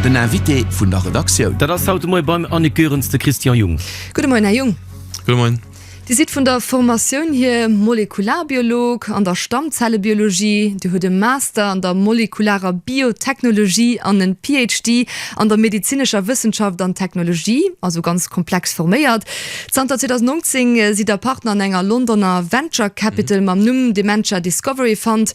Den Invité vun der Redaktioun. Dat ass haut de Moie beim Annick Goerens de Christian Jung. Gudde Moien, Här Jung. Gudde Moien. Dir sidd vun der Formatioun hier Molekularbiolog an der Stammzellebiologie. Dir hutt e Master an der molekularer Biotechnologie an en PhD an der medezinescher Wëssenschaft an Technologie, also ganz komplex forméiert. Zanter 2019 sidd Der Partner an enger Londoner Venture Capital mam Numm Dementia Discovery Fund.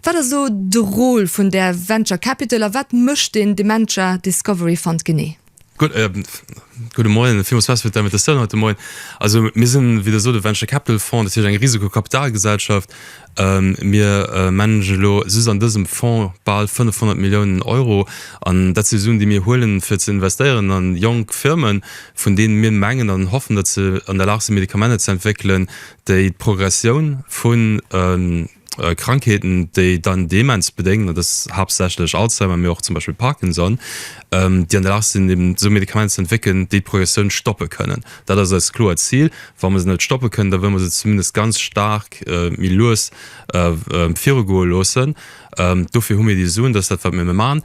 Wat ass elo de Rôle vun där Venture Capital a wat mécht den Dementia Discovery Fund genee? Gudde Moien, villmools merci fir d' Invitatioun haut de Moien. Also mir sinn, wéi Der sot, e Venture Capital Fonds, dat heescht eng Risikokapitalgesellschaft. Mir managen elo just an dësem Fonds bal 500 Milliounen Euro an dat si Suen, déi mir huelen, fir ze investéieren a jonk Firmen, vun deene mir mengen an hoffen, datt se an der Lag sinn, Medikamenter ze entwéckelen, déi d'Progressioun vun. Krankheeten, déi dann Demenz bedéngen, dat ass haaptsächlech Alzheimer, mee och zum Beispill Parkinson, déi an der Lag sinn eben esou Medikamenter ze entwéckelen, déi d'Progressioun stoppe kënnen. Dat ass eist kloert Zil. Wa mer se net stoppe kënnen, da wëlle mer se zumindest ganz staark méi lues virugoe loossen. Dofir hu mir déi Suen, dat ass dat wat mir elo maachen.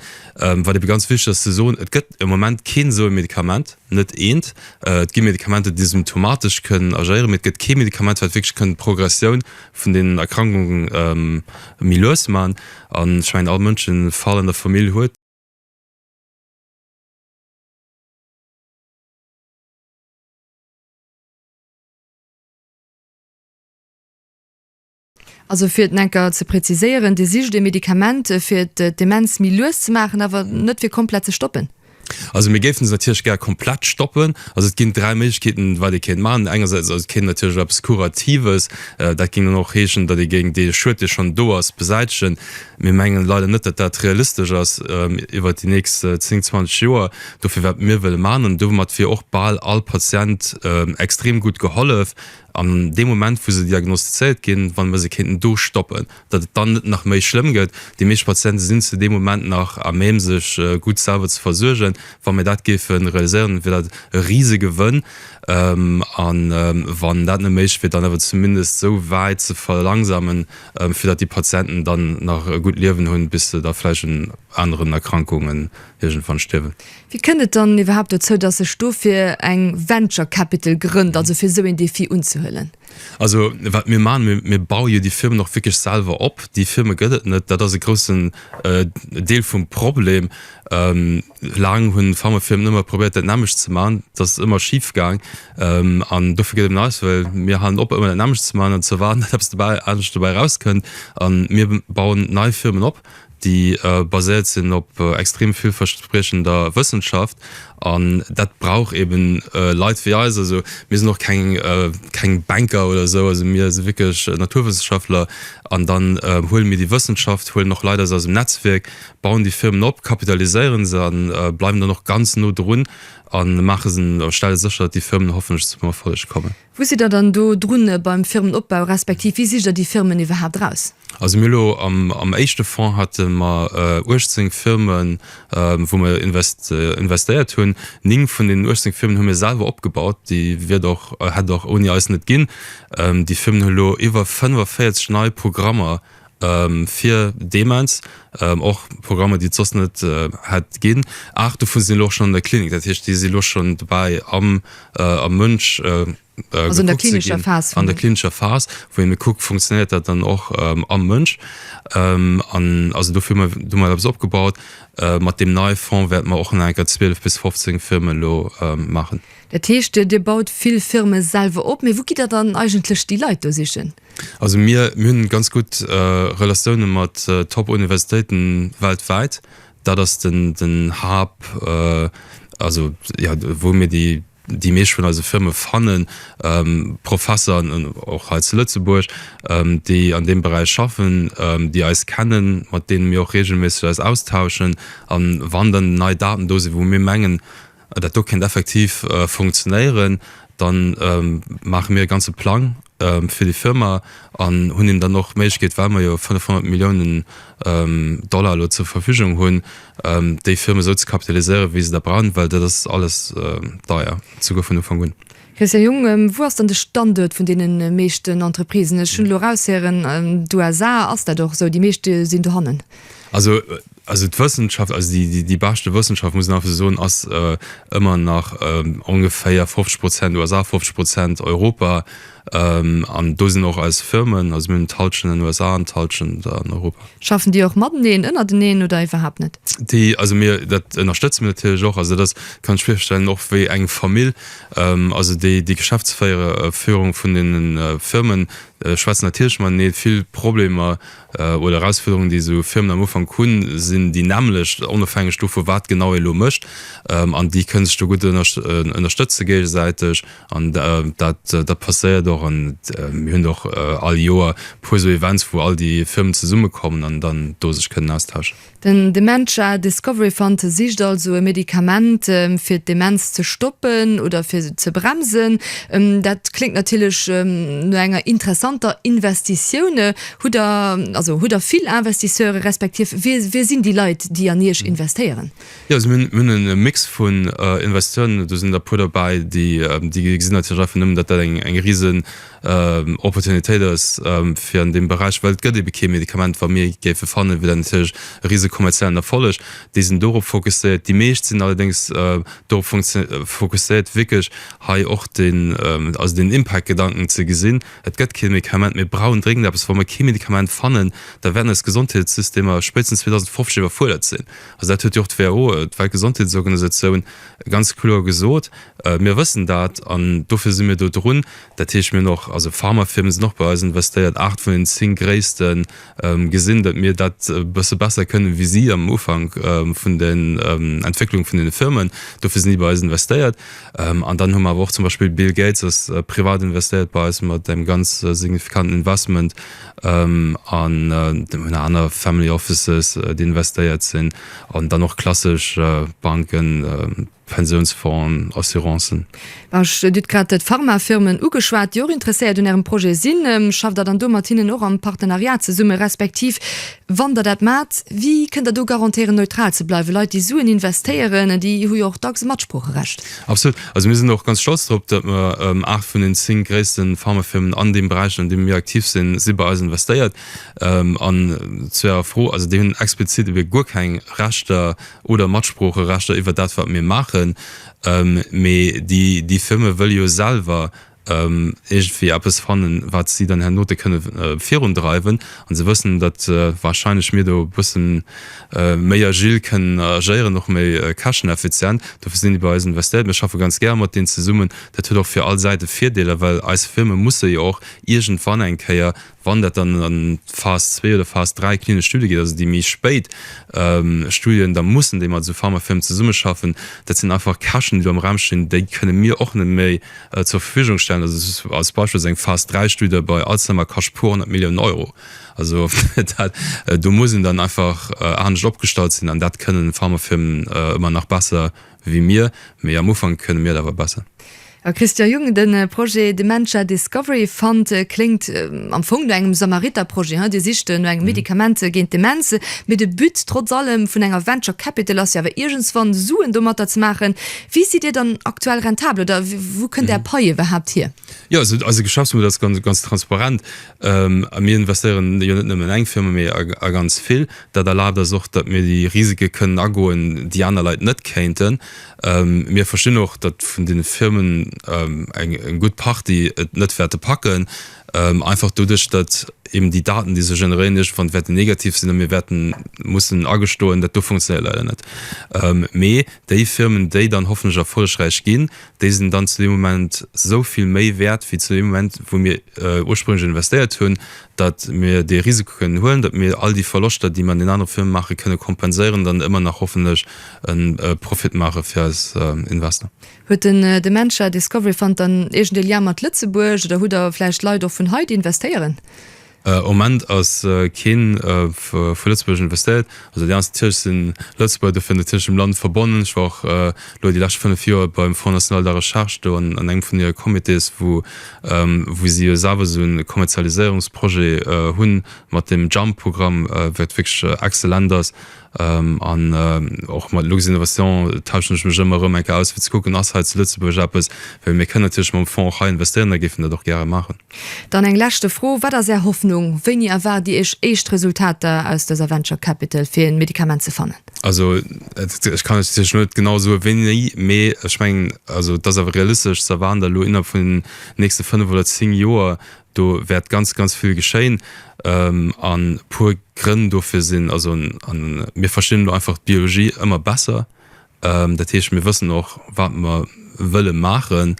Wat ebe ganz wichteg ass ze soen, et gëtt e Moment keen esou e Medikament, net eent. Et gi Medikamenter, déi symptomatesch kënnen agéieren, mee et gëtt kee Medikament wat wierklech kënnt d'Progressioun vun den Erkrankungen méi lues ze maachen an ech mengen all Mënsch den e Fall an der Famill huet, Also fir et nach eng Kéier ze präziséieren, Dir sicht e Medikament fir d'Demenz méi lues ze maachen, awer net fir komplett ze stoppen? Also mir géifen se natierlech gär komplett stoppen. Also et ginn dräi Méiglechkeeten, wat ee kéint maachen. Engersäits ass et kéint natierlech eppes Kuratives, dat géing dann och heeschen, datt ee géing dee Schued, dee schonn do ass, besäitegen. Mir mengen leider net, datt dat realistesch ass iwwert déi nächst zéng, zwanzeg Joer. Dofir wat mir wëlle maachen, an domat wier och bal all Patient extrem gutt gehollef, An deem Moment, wou se diagnostizéiert ginn, wann mer se kéinten do stoppen, datt et dann net nach méi schlëmm gëtt. Déi meescht Patiente sinn zu deem Moment nach à même sech gutt selwer ze versuergen. Wa mir dat géife realiséieren, wier dat e Risegewënn. A wann dat net méiglech wier, dann awer zumindest esou wäit ze verlangsamen, fir datt déi Patienten dann nach e gutt Liewen hunn, bis se da vläicht un aneren Erkrankungen iergendwann stierwen. Wéi kënnt et dann iwwerhaapt dozou, dass sech dofir eng Venture Capital grënnt, also fir esou een Defi unzehuelen? Also wat mir maachen, mir, mir baue jo déi Firmen och wierklech selwer op. Déi Firme gëtt et net, dat ass e groussen Deel vum Problem. Laang hunn Pharmafirmen ëmmer probéiert dat nämmlecht ze maachen, dat ass ëmmer schif gaang an dofir gëtt et net eis, well mir halen op ëmmer dat nämmlecht ze maachen an ze erwaarden, dass eppes dobäi, anescht dobäi erauskënnt a mir bauen nei Firmen op. déi baséiert sinn op extrem villverspriechender Wëssenschaft, an dat brauch eben Leit wéi eis. Also mir sinn och keng keng Banker oder esou, also mir si wierklech Naturwëssenschaftler, an dann huele mir déi Wëssenschaft, huelen och Leit aus eisem Netzwierk, bauen déi Firmen op, kapitaliséiere se, a bleiwen dann och ganz no drun a maache se a stelle sécher, datt déi Firmen hoffentlech zum Erfolleg kommen. Wou sidd Der dann do drun beim Firmenopbau, respektiv wéi sicht Der déi Firmen iwwerhaapt eraus? Also mir hu elo am éischte Fonds hate mer 18 Firmen, wou mer investéiert hunn. Ning vun deenen 18 Firmen hu mir selwer opgebaut, déi wier et och, hätt et och ouni eis net ginn. Déi Firmen hu elo iwwer 45 nei Programmer, fir Demenz, och Programmer déi et soss net hätt ginn. Aacht dovun sinn elo och schonn an der Klinik, dat heescht déi si lo schonn dobäi am Mënsch gekuckt ze ginn, an der klinescher Phas, wou ee kuckt funktionéiert dat dann och am Mënsch. An also dofir hu mer do mol eppes opgebaut. Mat deem neie Fonds wäerte mer och nach enker 12 bis 15 Firme lo maachen. Dat heescht Dir baut vill Firme selwer op, mee wou gitt Der dann eigentlech déi Leit do sichen? Also mir hunn ganz gutt Relatioune mat Top-Universitéiten weltwäit. Dat ass den Hub, also jo, wou mir déi meescht vun eise Firme fannen. Professeren an och hei zu Lëtzebuerg, déi an deem Beräich schaffen, déi eis kennen, mat deene mir och reegelméisseg eis austauschen. A wann dann nei Daten do sinn, wou mir mengen, dat do kéint effektiv funktionéieren, da maache mir e ganze Plang fir déi Firma an hunn hinnen dann och d'Méiglechkeet, well mer jo 500 Milliounen Dollar elo zur Verfügung hunn, déi Firma esou ze kapitaliséieren, wéi se der brauchen, well dat ass alles deier, souguer vun Ufank un. Christian Jung, Wou ass dann de Standuert vun deene meeschten Entreprisen? Ech hunn elo eraushéieren, d'USA ass dat och esou, déi meescht sinn dohannen. Also, also d'Wëssenschaft, also déi, déi beschte Wëssenschaft, muss een einfach esou soen, ass ëmmer nach ongeféier 50 Prozent USA, 50 Prozent Europa. An do sinn och eis Firmen, also mir hunn d'Hallschent an den USA an d'Hallschent an Europa. Schaffen déi och mateneen, ënnerteneen oder iwwerhaapt net? Déi, also mir, dat ënnerstëtze mir natierlech och. Also dat ass, kann ech virstellen, och wéi eng Famill. Also déi Geschäftsféierung vun deene Firme schwätzt natierlech mat. Nee, vill Problemer oder Erausfuerderungen, déi esou Firmen am Ufank hunn, sinn déi nämmlecht, onofhängeg dovun, wat genau ee elo mécht. An déi kënne sech do gutt ënnerstëtze géigesäiteg. An dat passéiert och. An mir hunn och all Joer e puer esou Events, wou all déi Firmen zesummekommen an dann do sech kënnen austauschen. Den Dementia Discovery Fund sicht also e Medikament fir d'Demenz ze stoppen oder fir se ze bremsen. Dat kléngt natierlech no enger interessanter Investitioun. Hutt der, also hutt der vill Investisseure respektiv wie, wie sinn déi Leit déi an iech investéieren? Jo, also mir hunn e Mix vun Investisseuren, do sinn der e puer dobäi déi, déi gesinn natierlech einfach nëmmen, datt dat eng, eng risen Opportunitéit ass fir an deem Beräich, well et gëtt ebe kee Medikament wat mir géife fannen, wier dat natierlech e rise kommerziellen Erfolleg. Déi sinn dorop fokusséiert. Déi meescht sinn allerdéngs dorop fokusséiert wierklech hei och den, also den Impact Gedanken ze gesinn. Et gëtt kee Medikament, mir brauchen dréngend eppes. Wa mer kee Medikament fannen, da wäerten eis Gesondheetssystemer spéitstens 2050 iwwerfuerdert sinn. Also dat huet jo och d'WHO, d'Weltgesondheetsorganisatioun, ganz kloer gesot. Mir wëssen dat an dofir si mir do drun. Dat heescht, mir hunn och, also Pharmafirme sinn och bei eis investéiert, aacht vun den zéng gréisste gesinn, datt mir dat e bësse besser kënnen wéi si am Ufank vun den Entwécklung vun deene Firmen. Dofir sinn déi bei eis investéiert. An dann hu mer awer och zum Beispill, Bill Gates ass privat investéiert bei eis mat engem ganz signifikanten Investment. An mir hunn aner Family Offices, déi investéiert sinn. An dann och klassesch Banken. Pensiounsfonds, Assurancen. Ech dut grad d'Pharmafirmen ugeschwat, déi och interesséiert un Ärem Projet sinn. Schafft Der dann do mat hinnen och am Partenariat zesumme, respektiv wann Der dat maacht, wéi kënnt Der do garantéieren, neutral ze bleiwen? Leit, déi Suen investéieren, déi hu jo och dacks e Matsproocherecht. Absolut. Also mir sinn och ganz stolz drop, datt mer 8 vun den 10 gréisste Pharmafirmen an deem Beräich, an deem mir aktiv sinn, si bei eis investéiert. An zu Ärer Fro, also déi hunn explizit ebe guer keng Rechter, oder Matsproocherechter iwwer dat wat mir maachen, mee déi Firme wëlle jo selwer iergendwéi eppes fannen, wat si dann hernote kënne virundreiwen, an se wëssen, datt warscheinlech mir do e bësse méi agil kënnen agéieren, och méi käschteneffizient. Dofir sinn déi bei eis investéiert. Mir schaffe ganz gär mat deenen zesummen. Dat huet och fir all Säite Virdeeler, well eis Firme musse jo och iergendwann eng Kéier Wann dat dann an d'Phas zwee oder Phas dräi klinesch Studie geet, also déi méi spéit Studien, da mussen déi mat esou Pharmafirmen zesummeschaffen. Dat sinn einfach Käschten, déi do am Raum stinn, déi kënne mir och net méi zur Verfügung stellen. Also als Beispill, esou eng Phas dräi Studie bei Alzheimer kascht puer honnert Milliounen Euro. Also dat, do muss een dann einfach anescht opgestallt sinn an dat kënnen Pharmafirmen ëmmer nach besser wéi mir, mee am Ufank kënne mir et awer besser. Christian Jung, De Projet Dementia Discovery Fund kléngt am Fong no engem Samariter-Projet, Dir sicht no engem Medikament géint d'Demenz, mee de But trotz allem vun enger Venture Capital ass jo awer iergendswann Suen domatter ze maachen. Wéi sidd Dir dann aktuell rentabel oder wou kënnt Är Pai iwwerhaapt hier? Jo, also eise Geschäftsmodell ass ganz transparent a mir investéieren jo net nëmmen an eng Firma, mee a ganz vill. Dat erlaabt eis och, datt mir déi Risike kënnen agoen, déi aner Leit net kéinten. Mir verstinn och, datt vun deene Firmen eng gutt Partie et net wäerte packen, einfach doduerch, datt eben déi Daten, déi se generéieren, iergendwann wäerten negativ sinn a mir wäerte mussen agestoen, dat do funktionéiert leider net. Mee déi Firmen, déi dann hoffentlech erfollegräich ginn, déi sinn dann zu deem Moment esou vill méi wäert wéi zu deem Moment, wou mir ursprünglich investéiert hunn, datt mir dee Risiko kënnen huelen, datt mir all déi Verloschter, déi mir an den anere Firme maachen, kënne kompenséieren, dann ëmmer nach hoffentlech e Profit maache fir eis Investor. Huet den Dementia Discovery Fund dann iergend e Lien mat Lëtzebuerg oder hutt der vläicht Leit och vun hei, déi investéieren? Am Moment ass kee vu Lëtzebuerg investéiert. Also déi ganz Tierk sinn Lëtzebuerger, dofir an der Tierkech mam Land verbonnen. Ech war och elo déi lescht 5 Joer beim Fonds National de la Recherche do an engem vun hire Comités, wou wou si jo selwer esou e Kommerzialiséierungsprojet hunn mat deem Jump-Programm, wat wierklech exzellent ass. An och mat Luxinnovation tauschen ech mech ëmmer erëm eng Kéier aus, fir ze kucken, ass hei zu Lëtzebuerg eppes, well mir kënnen natierlech mam Fonds och hei investéieren a géifen dat och gäre maachen. Dann eng leschte Fro, Wat ass Är Hoffnung? Wéini erwaart Dir Iech éischt Resultater aus dëser Venture Capital fir en Medikament ze fannen? Also ech kann lech natierlech net genau soe wéini, mee ech mengen, also et ass awer realistesch ze erwaarden, datt elo innerhalb vun den nächste fënnef oder zéng Joer do wäert ganz, ganz vill geschéien an e puer Grënn dofir sinn. Also mir verstinn elo einfach d'Biologie ëmmer besser, Dat heescht, mir wëssen och, wat mer wëlle maachen.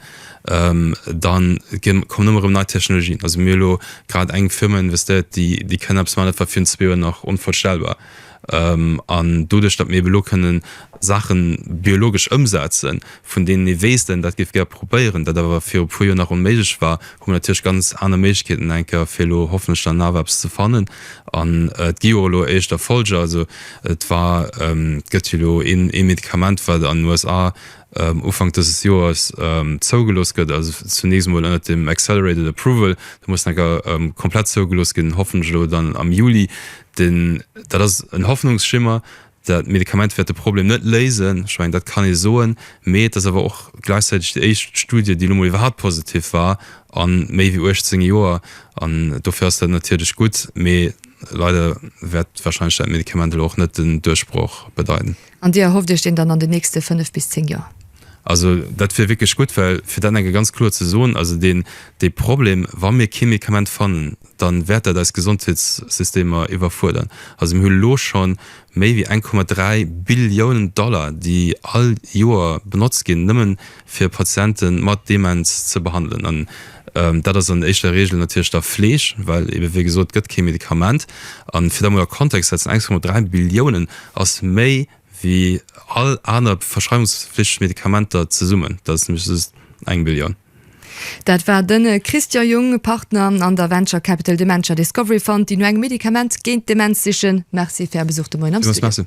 Da kommen ëmmer erëm nei Technologien. Also mir hu elo grad eng Firma investéiert, déi kënn eppes maachen, dat war virun zwee Joer nach onvorstellbar. An doduerch, datt mir eeben elo kënne Saache biologesch ëmsetzen, vun deenen ee weess, dat géif ee gär probéieren, dat awer viru puer Joer nach onméiglech war, Hu mer natierlech ganz aner Méiglechkeeten enk fir elo hoffentlech dann nach eppes ze fannen an et gi jo och elo éischt Erfolger. Also et war, et gëtt jo elo een ee Medikament wat an den USA Ufank dëses Joers zougelooss gëtt, also zunächst emol ënnert dem accelerated approval, da muss enk komplett zougelooss ginn, hoffentlech elo dann am Juli. Dat ass en Hoffnungsschimmer, Dat Medikament wäert de Problem net léisen, ech mengen, dat kann ee soen. Mee et ass awer och gläichzäiteg déi éischt Studie, déi elo mol iwwerhaupt positiv war a méi wéi 18 Joer. An dofir ass dat natierlech gutt. Mee leider wäert warscheinlech dat Medikament elo och net den Duerchbroch bedeiten. An Dir erhofft Iech deen dann an den nächste fënnef bis zéng Joer? Also dat wier wierklech gutt, well fir dat eng Kéier ganz kloer ze soen, also dee Problem, wa mir kee Medikament fannen, dann wäert dat eis Gesondheetssystemer iwwerfuerdern. Also mir hu lo scho méi wéi 1,3 Billiounen Dollar, déi all Joer benotzt ginn, nëmmen fir Patiente mat Demenz ze behandelen. An dat ass an éischter Regel natierlech da Fleeg, well ebe wéi gesot gëtt kee Medikament. A fir dat mol a Kontext ze setzen, 1,3 Billiounen ass méi wéi all aner verschreiwungsflichteg Medikamenter zesummen. Dat ass nämlech just eng Billioun. Dat war den Christian Jung, Partner an der Venture Capital Dementia Discovery Fund, déi no engem Medikament géint d'Demenz sichen. Merci fir Är Besuch de Moien am Studio.